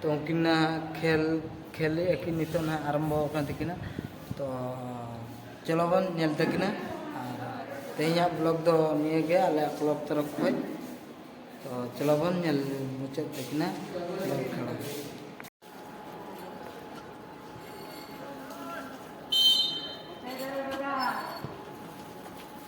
ᱛᱚ ᱩᱱᱠᱤᱱᱟᱜ ᱠᱷᱮᱞ ᱠᱷᱮᱞ ᱮᱫ ᱟᱹᱠᱤᱱ ᱱᱤᱛᱚᱜ ᱱᱟᱦᱟᱜ ᱟᱨᱟᱢᱵᱚ ᱟᱠᱟᱱ ᱛᱟᱹᱠᱤᱱᱟ ᱛᱚ ᱪᱚᱞᱚ ᱵᱚᱱ ᱧᱮᱞ ᱛᱟᱹᱠᱤᱱᱟ ᱟᱨ ᱛᱮᱦᱮᱧᱟᱜ ᱵᱞᱚᱜᱽ ᱫᱚ ᱱᱤᱭᱟᱹ ᱜᱮ ᱟᱞᱮᱭᱟᱜ ᱠᱞᱚᱵᱽ ᱛᱚᱨᱚᱯ ᱠᱷᱚᱱ ᱛᱚ ᱪᱚᱞᱚ ᱵᱚᱱ ᱧᱮᱞ ᱢᱩᱪᱟᱹᱫ ᱛᱟᱹᱠᱤᱱᱟ ᱵᱚᱞ ᱠᱷᱮᱞᱟ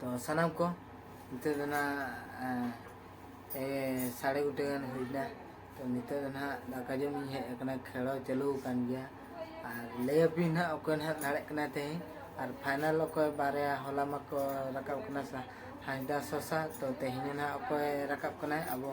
ᱛᱚ ᱥᱟᱱᱟᱢ ᱠᱚ ᱱᱤᱛᱚᱜ ᱫᱚ ᱱᱟᱦᱟᱜ ᱥᱟᱲᱮ ᱜᱚᱴᱮ ᱜᱟᱱ ᱦᱩᱭᱱᱟ ᱛᱚ ᱱᱤᱛᱚᱜ ᱫᱚ ᱱᱟᱦᱟᱜ ᱫᱟᱠᱟ ᱡᱚᱢ ᱤᱧ ᱦᱮᱡ ᱟᱠᱟᱱᱟ ᱠᱷᱮᱲᱚ ᱪᱟᱹᱞᱩ ᱟᱠᱟᱱ ᱜᱮᱭᱟ ᱟᱨ ᱞᱟᱹᱭ ᱟᱯᱮᱭᱟᱹᱧ ᱱᱟᱦᱟᱜ ᱚᱠᱚᱭ ᱱᱟᱦᱟᱜ ᱫᱟᱲᱮᱜ ᱠᱟᱱᱟ ᱛᱮᱦᱮᱧ ᱟᱨ ᱯᱷᱟᱭᱱᱟᱞ ᱚᱠᱚᱭ ᱵᱟᱨᱭᱟ ᱦᱚᱞᱟ ᱢᱟᱠᱚ ᱨᱟᱠᱟᱵ ᱠᱟᱱᱟ ᱥᱟ ᱦᱟᱸᱥᱫᱟ ᱥᱚᱥᱟ ᱛᱚ ᱛᱮᱦᱮᱧ ᱱᱟᱦᱟᱜ ᱚᱠᱚᱭ ᱨᱟᱠᱟᱵ ᱠᱟᱱᱟᱭ ᱟᱵᱚ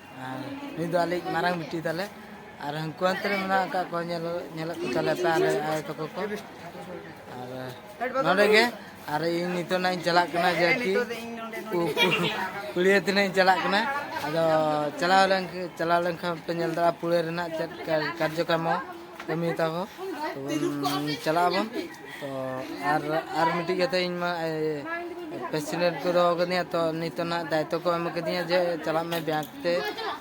ᱟᱨ ᱱᱩᱭ ᱫᱚ ᱟᱞᱮ ᱢᱟᱨᱟᱝ ᱵᱤᱴᱤ ᱛᱟᱞᱮ ᱟᱨ ᱦᱟᱹᱱᱠᱩ ᱦᱟᱱᱛᱮ ᱨᱮ ᱢᱮᱱᱟᱜ ᱟᱠᱟᱫ ᱠᱚᱣᱟ ᱧᱮᱞ ᱧᱮᱞᱮᱫ ᱠᱚ ᱛᱟᱞᱮ ᱯᱮ ᱟᱞᱮ ᱟᱭᱳ ᱛᱟᱠᱚ ᱠᱚ ᱟᱨ ᱱᱚᱰᱮ ᱜᱮ ᱟᱨ ᱤᱧ ᱱᱤᱛᱚᱜ ᱱᱟᱜ ᱤᱧ ᱪᱟᱞᱟᱜ ᱠᱟᱱᱟ ᱡᱮ ᱠᱤ ᱯᱩᱲᱤᱭᱟᱹ ᱛᱤᱱᱟᱹᱜ ᱤᱧ ᱪᱟᱞᱟᱜ ᱠᱟᱱᱟ ᱟᱫᱚ ᱪᱟᱞᱟᱣ ᱞᱮᱱ ᱪᱟᱞᱟᱣ ᱞᱮᱱᱠᱷᱟᱱ ᱯᱮ ᱧᱮᱞ ᱫᱟᱲᱮᱭᱟᱜᱼᱟ ᱯᱩᱲᱤᱭᱟᱹ ᱨᱮᱱᱟᱜ ᱪᱮᱫ ᱠᱟᱨᱡᱚᱠᱨᱚᱢ ᱠᱟᱹᱢᱤ ᱛᱟᱠᱚ ᱛᱚᱵᱚᱱ ᱪᱟᱞᱟᱜ ᱟᱵᱚᱱ ᱛᱚ ᱟᱨ ᱟᱨ ᱢᱤᱫᱴᱤᱡ ᱠᱟᱛᱷᱟ ᱤᱧ ᱢᱟ ᱯᱮᱥᱤᱰᱮᱱᱴ ᱠᱚ ᱫᱚᱦᱚ ᱠᱟᱹᱫᱤᱧᱟ ᱛᱚ ᱱᱤᱛᱚᱜ ᱱᱟᱜ ᱫᱟᱭᱤᱛᱛᱚ ᱠᱚ ᱮᱢ ᱠᱟᱹᱫᱤᱧᱟ ᱡᱮ ᱪᱟᱞᱟᱜ ᱢᱮ ᱵᱮᱝᱠ ᱛᱮ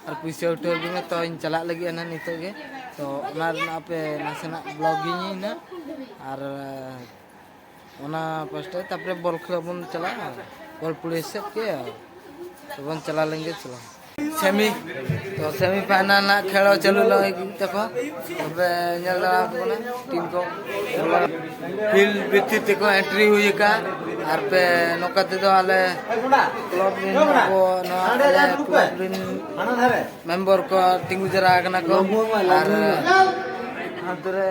ᱟᱨ ᱯᱩᱭᱥᱟᱹ ᱩᱴᱷᱟᱹᱣ ᱟᱹᱜᱩᱭ ᱢᱮ ᱛᱚᱧ ᱪᱟᱞᱟᱜ ᱞᱟᱹᱜᱤᱫ ᱱᱟᱜ ᱱᱤᱛᱚᱜ ᱜᱮ ᱛᱚ ᱚᱱᱟ ᱨᱮᱱᱟᱜ ᱟᱯᱮ ᱱᱟᱥᱮᱱᱟᱜ ᱵᱞᱚᱠ ᱜᱤᱧ ᱤᱧ ᱱᱟᱜ ᱟᱨ ᱚᱱᱟ ᱯᱟᱥᱴᱟ ᱛᱟᱯᱚᱨᱮ ᱵᱚᱞ ᱠᱷᱮᱞ ᱵᱚᱱ ᱪᱟᱞᱟᱜᱼᱟ ᱵᱚᱞ ᱯᱩᱞᱤ ᱥᱮᱫ ᱜᱮ ᱵᱚᱱ ᱪᱟᱞᱟᱣ ᱞᱮᱱ ᱜᱮ ᱪᱟᱞᱟᱣ ᱥᱮᱢᱤ ᱛᱚ ᱥᱮᱢᱤ ᱯᱷᱟᱭᱱᱟᱞ ᱨᱮᱱᱟᱜ ᱠᱷᱮᱞ ᱪᱟᱹᱞᱩ ᱞᱟᱹᱜᱤᱫ ᱛᱟᱠᱚ ᱛᱚᱵᱮ ᱧᱮᱞ ᱫᱟᱲᱮ ᱟᱠᱚ ᱠᱟᱱᱟ ᱴᱤᱢ ᱠᱚ ᱯᱷᱤᱞᱰ ᱵᱷᱤᱛᱤᱨ ᱛᱮᱠᱚ ᱮᱱᱴᱨᱤ ᱦᱩᱭ ᱟᱠᱟᱫ ᱟᱨ ᱯᱮ ᱱᱚᱝᱠᱟ ᱛᱮᱫᱚ ᱟᱞᱮ ᱠᱞᱚᱵ ᱨᱮᱱ ᱟᱵᱚ ᱱᱚᱣᱟ ᱟᱞᱮ ᱠᱞᱚᱵ ᱨᱮᱱ ᱢᱮᱢᱵᱚᱨ ᱠᱚ ᱛᱤᱸᱜᱩ ᱡᱟᱣᱨᱟ ᱟᱠᱟᱱᱟ ᱠᱚ ᱟᱨ ᱟᱛᱳ ᱨᱮ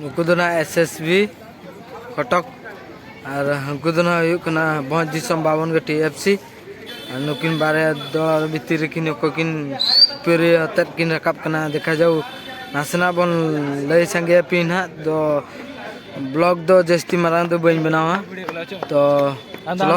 ᱱᱩᱠᱩ ᱫᱚ ᱱᱟᱦᱟᱜ ᱮᱥ ᱮᱥ ᱵᱤ ᱠᱚᱴᱚᱠ ᱟᱨ ᱦᱟᱹᱱᱠᱩ ᱫᱚ ᱱᱟᱦᱟᱜ ᱦᱩᱭᱩᱜ ᱠᱟᱱᱟ ᱵᱷᱚᱸᱡᱽ ᱫᱤᱥᱚᱢ ᱵᱟᱵᱚᱱ ᱜᱟᱹᱴᱤ ᱮᱯᱷ ᱥᱤ ᱟᱨ ᱱᱩᱠᱤᱱ ᱵᱟᱨᱭᱟ ᱫᱚᱞ ᱵᱷᱤᱛᱤᱨ ᱨᱮᱠᱤᱱ ᱚᱠᱚᱭ ᱠᱤᱱ ᱯᱮᱨᱮ ᱟᱛᱮᱫ ᱠᱤᱱ ᱨᱟᱠᱟᱵ ᱠᱟᱱᱟ ᱫᱮᱠᱷᱟ ᱡᱟᱣ ᱱᱟᱥᱮᱱᱟᱜ ᱵᱚᱱ ᱞᱟᱹᱭ ᱥᱟᱸᱜᱮ ᱟᱯᱮᱭᱟ ᱱᱟᱦᱟᱜ ᱫᱚ ᱵᱞᱚᱜᱽ ᱫᱚ ᱡᱟᱹᱥᱛᱤ ᱢᱟᱨᱟᱝ ᱫᱚ ᱵᱟᱹᱧ ᱵᱮᱱᱟᱣᱟ ᱛᱚ ᱪᱚᱞᱚ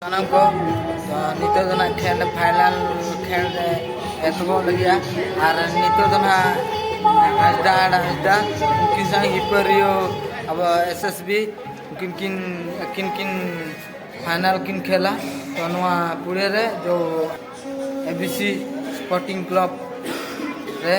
ᱥᱟᱱᱟᱢ ᱠᱚ ᱱᱤᱛᱚᱜ ᱫᱚ ᱱᱟᱜ ᱠᱷᱮᱞ ᱯᱷᱟᱭᱱᱟᱞ ᱠᱷᱮᱞ ᱨᱮ ᱮᱛᱚᱦᱚᱵ ᱞᱟᱹᱜᱤᱫᱼᱟ ᱟᱨ ᱱᱤᱛᱚᱜ ᱫᱚ ᱱᱟᱜ ᱦᱟᱸᱥᱫᱟ ᱟᱨ ᱦᱟᱸᱥᱫᱟ ᱩᱱᱠᱤᱱ ᱥᱟᱶ ᱦᱤᱯᱟᱹᱨᱤᱭᱳ ᱟᱵᱚ ᱮᱥ ᱮᱥ ᱵᱤ ᱩᱱᱠᱤᱱ ᱠᱤᱱ ᱟᱹᱠᱤᱱ ᱠᱤᱱ ᱯᱷᱟᱭᱱᱟᱞ ᱠᱤᱱ ᱠᱷᱮᱞᱟ ᱛᱚ ᱱᱚᱣᱟ ᱯᱩᱲᱮ ᱨᱮ ᱫᱚ A B C sporting club ᱨᱮ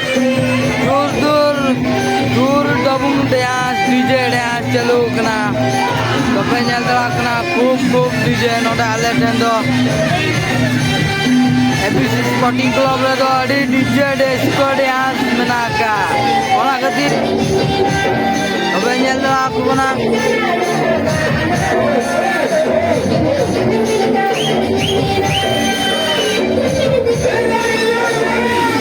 ᱫᱩᱨ ᱫᱩᱨ ᱫᱩᱨ ᱰᱚᱵᱩᱝ ᱰᱮᱸᱥ ᱰᱤᱡᱮ ᱰᱮᱸᱥ ᱪᱟᱹᱞᱩ ᱠᱟᱱᱟ ᱛᱚᱯᱮ ᱧᱮᱞ ᱫᱟᱲᱮᱭᱟᱜ ᱠᱟᱱᱟ ᱠᱷᱩᱵ ᱠᱷᱩᱵ ᱰᱤᱡᱮ ᱱᱚᱰᱮ ᱟᱞᱮ ᱴᱷᱮᱱ ᱫᱚ ᱮᱯᱤᱥᱤ ᱥᱯᱚᱴᱤᱝ ᱠᱞᱟᱵ ᱨᱮᱫᱚ ᱟᱹᱰᱤ ᱰᱤᱡᱮ ᱰᱮᱥᱠᱚ ᱰᱮᱸᱥ ᱢᱮᱱᱟᱜ ᱟᱠᱟᱫ ᱚᱱᱟ ᱠᱷᱟᱹᱛᱤᱨ ᱛᱚᱵᱮ ᱧᱮᱞ ᱫᱟᱲᱮᱭᱟᱜ ᱠᱚ ᱠᱟᱱᱟ